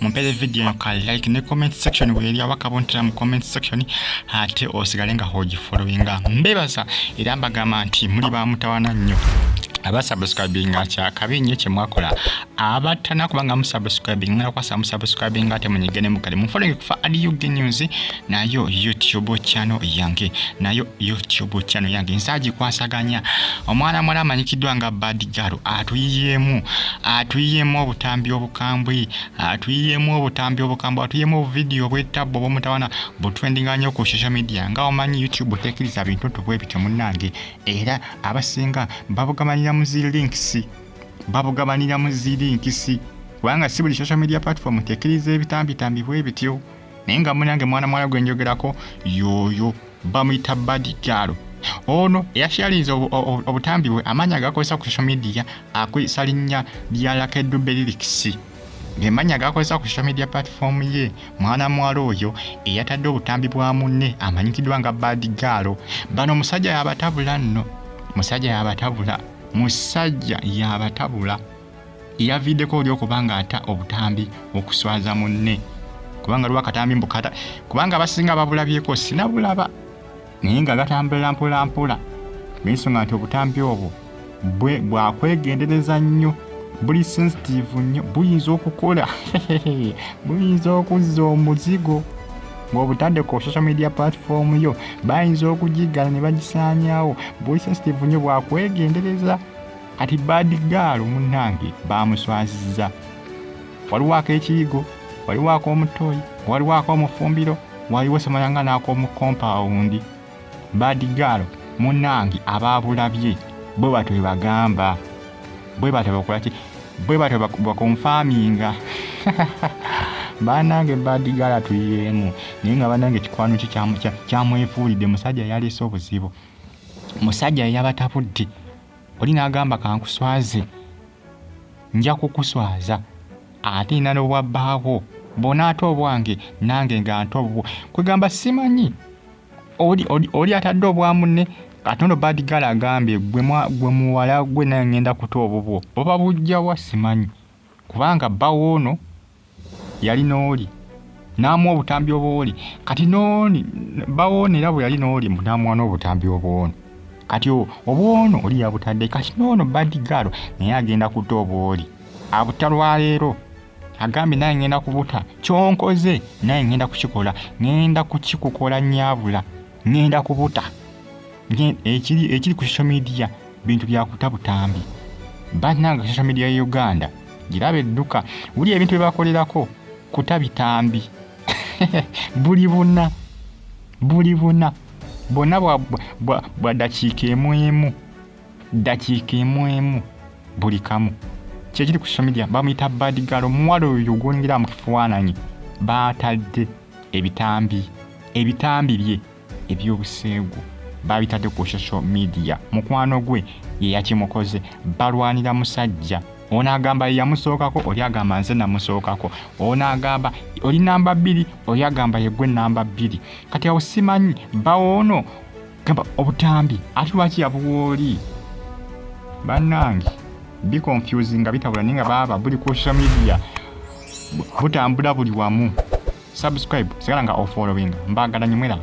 mumpeze video eno ka like ne comment section weeri aba kabontera mu comment section ate osigale nga hogifollowinga mbebaza era mbagamba nti muli ba mutawana nnyo abasubscribing akyakabi nnyo kye mwakola abatana kubanga musubscribing mwala kwasa musubscribing ate munyigene mukale mufollowing kufa adiug news nayo youtube channel yange nayo youtube channel yange nsaji kwasaganya omwana mwala amanyikiddwa nga bad girl atuyiyemu atuyiyemu obutambi obukambwe atuyiyemu obutambi obukambwe atuyiyemu obuvidiyo obwetabbo obwomutawana butwendinga nnyo ku social media nga omanyi youtube tekiriza bintu tubwe bityo munnange era abasinga babugabanira mu zi links babugabanira mu zi links kubanga si buli social media platform tekiriza ebitambitambi bwe bityo naye nga munange mwana muwala gwe njogerako yooyo bamuyita badi gaalo ono eyashalinze obutambi bwe amaanyi agakozesa ku social media akozesa linnya lya lakedube lirikisi ng'emanya agakozesa ku social media platform ye mwana muwala oyo eyatadde obutambi bwa munne amanyikiddwa nga badi gaalo bano omusajja yabatabula nno musajja yabatabula musajja yabatabula yaviideko oli okuba nga ata obutambi okuswaza munne kubanga lwa katambi mbukata kubanga abasinga babulabyeko sinabulaba naye nga gatambulira mpolampola nensonga nti obutambi obwo bwe bwakwegendereza nnyo buli sensitive nnyo buyinza okukola buyinza okuzza omuzigo ng'obutadde ku social media platform yo bayinza okugiggala ne bagisaanyawo buli sensitive nnyo bwakwegendereza Kati bad girl munnange baamuswazizza. Waliwo ak'ekiyigo, waliwo ak'omuttooyi, waliwo ak'omufumbiro, waliwo samala nga n'ak'omu kompaawundi. Bad girl munnange abaabulabye bwe batyo bwe bagamba. Bwe batyo bakola ki? Bwe batyo bak- bakonfaaminga. banange badigala tuyiyeemu naye nga banange kikwano ki kyamu- kya- kyamwefuulidde musajja yalese obuzibu musajja yabatabudde oli n'agamba kankuswaze nja kukuswaza ate nina n'obwa bbaako bona ate obwange nange nga nte obubwo kwegamba simanyi oli atadde obwa munne katono badigala agambye gwe muwala gwe naye ngenda kuta obubwo oba bujjawa simanyi kubanga bbawoono yali n'oli n'amuwa obutambi obwoli kati n'oni bawoona era bwe yali n'oli mbu n'amuwa n'obutambi obwono kati obwono oli yabutadde kati n'ono badigaalo naye agenda kuta obwoli abuta lwaleero agambye naye ngenda kubuta kyonkoze naye ngenda kukikola ngenda kukikukola nyabula ngenda kubuta ekiri ku social media bintu byakuta butambi bananga social media ya uganda girabe edduka wuli ebintu byebakolerako kuta bitambi buli buna buli buna bwonna bwa dakiika emu emu dakiika emu emu buli kamu kyekiri ku social media bamuyita badigalo omuwala oyo gwongera mu kifaananyi baatadde ebitambi ebitambi bye ebyobuseegu baabitadde ku social media mukwano gwe ye yakimukoze balwanira musajja ono agamba yeyamusookako oli agamba nze namusookako ono agamba oli namba bbiri oli agamba yegwe namba bbiri kati awo simanyi bawoono gamba obutambi ate lwaki yabuwooli bannange bi confusing nga bitabula naye nga baaba buli ku social media butambula buli wamu subscribe sigala nga ofollowing mbagala nyo mwelaba